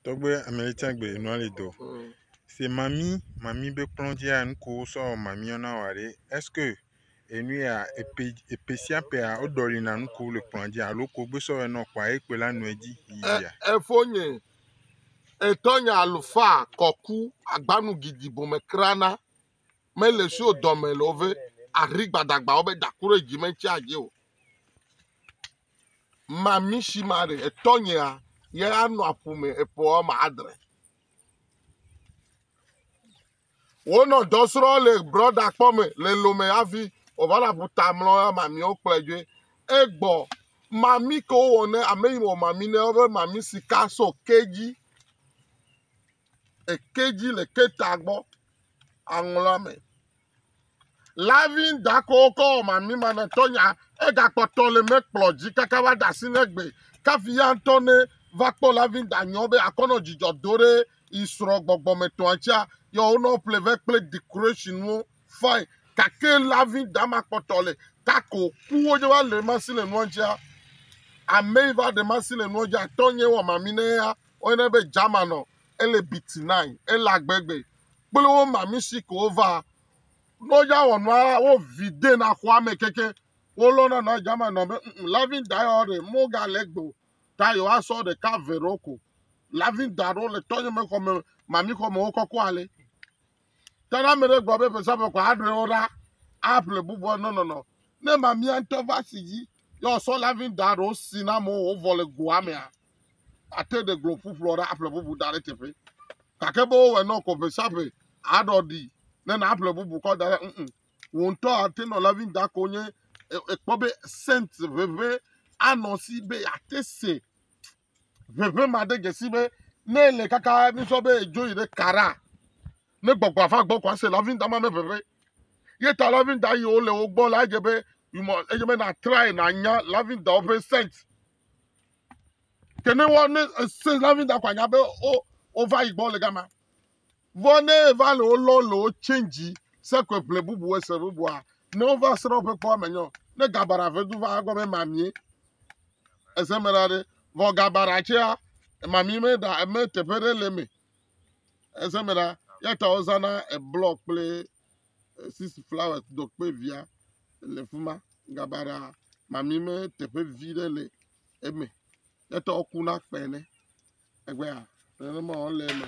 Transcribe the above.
Tɔgbe amelitsagbe nuali dɔ. Se mami mami be kplɔ dzia nuko sɔ mami yɔna wa ɖe. Est-ce que enu ya epe epe sia pea woɖɔli na nuko le kplɔ dzi alo ko gbe sɔ enɔ kpa ekpe la nɔe dzi yia. Efonye etɔnye alufa kɔku agbanu gidi bome krana mele sio dɔme le wove ari gbadagbawo be daku ɖe dzi mentsi adzi o. Mamishimari, etɔnyea, ye anɔ aƒu me eƒe wɔme adre. Wonɔ dɔ srɔ̃ le brɔda kpɔ me le lome hafi wòva le aƒuta mlɔ mamiwo kplɔe dzoe. Egbɔ mami ke wowɔ ne ame yi wɔ mami ne woƒe mami sika so kedzi. Ekedzi le keta gbɔ aŋlɔa me. Lavi ŋdakɔwo kɔ wɔ mami manɔtɔnya, egakpɔ tɔ le mɛ kplɔ dzi kaka va da asi ne gbe. Kafi ya ŋtɔ ne va kpɔ lavi ŋda nyɔ be akɔnɔ djidjɔ do ɖe yi srɔ gbɔgbɔ me tɔa ŋtsia, yɔ wo nɔ ple vɛ kple decoration wo fine. Gake lavi ŋda ma kpɔ tɔ le tako ku wo dje va le masi le nua ŋtsia. Ame yi va ɖe masi le nua djia tɔ nye wɔ mami ne ya, wo yɔnɛ be German ɔ, ele bitinae, ele agbe gbe. kple wo ma mi si ko wova. Ne woya wɔ nua wovi de na xɔa me keke wolɔna na jama nɔ be mm lavin da yɔ ɖe mogale gbo ta yewoasɔ ɖeka ve ɖewo ko. Lavin da ɖewo le tɔnye me xɔ me mami xɔ me wo kɔkɔ ale. Ta ne ame ɖe gblɔ be ƒesaƒe kɔ aɖe wo ɖa aƒle bubu nɔnɔnɔ. Ne mamia ŋutɔ va si dzi yɔ sɔ lavin da ɖewo si na amewo wovɔ le goa mea. ate ɖe gblɔ ƒuƒlɔ ɖe aƒle bubu da ɖe teƒe gake be wowɔe nɔ kɔ ƒe sia ƒe aɖɔ ɖi ne nàƒle bubu kɔ da ɖe mm wò ŋutɔ ate nɔ lavin da ko nye ekpɔ be sent ʋeʋẽ anɔ si be yeate se ʋeʋẽ ma de dzesi be ne ele kaka misɔ be edzo yi ɖe kara ne gbɔgbɔ ava gbɔ ko ase lavin da ma me ʋeʋẽ ye ta lavin da yiwo le wo gbɔ la edze be you must edze be nàtrae nànya lavin dawo ƒe sent Ke ne wɔ ne ese la mi da kwa nya be o o va yi gbɔ le gama. Vɔ ne va le o lɔ le o change se kwe ble bubu ese bubu a ne o va sra pe kpɔ me nyo ne gabara ve du va gɔ me ma mi ese me la de vɔ gabara che a ma mi me da me te pe de le me ese me la ya ta o zana e block kple Sis Flowers Dokpe via le fi ma. Gabaɖa mami me teƒe vi ɖe le eme. Etɔ ku na kpe ne. Egbea nenema wole eme.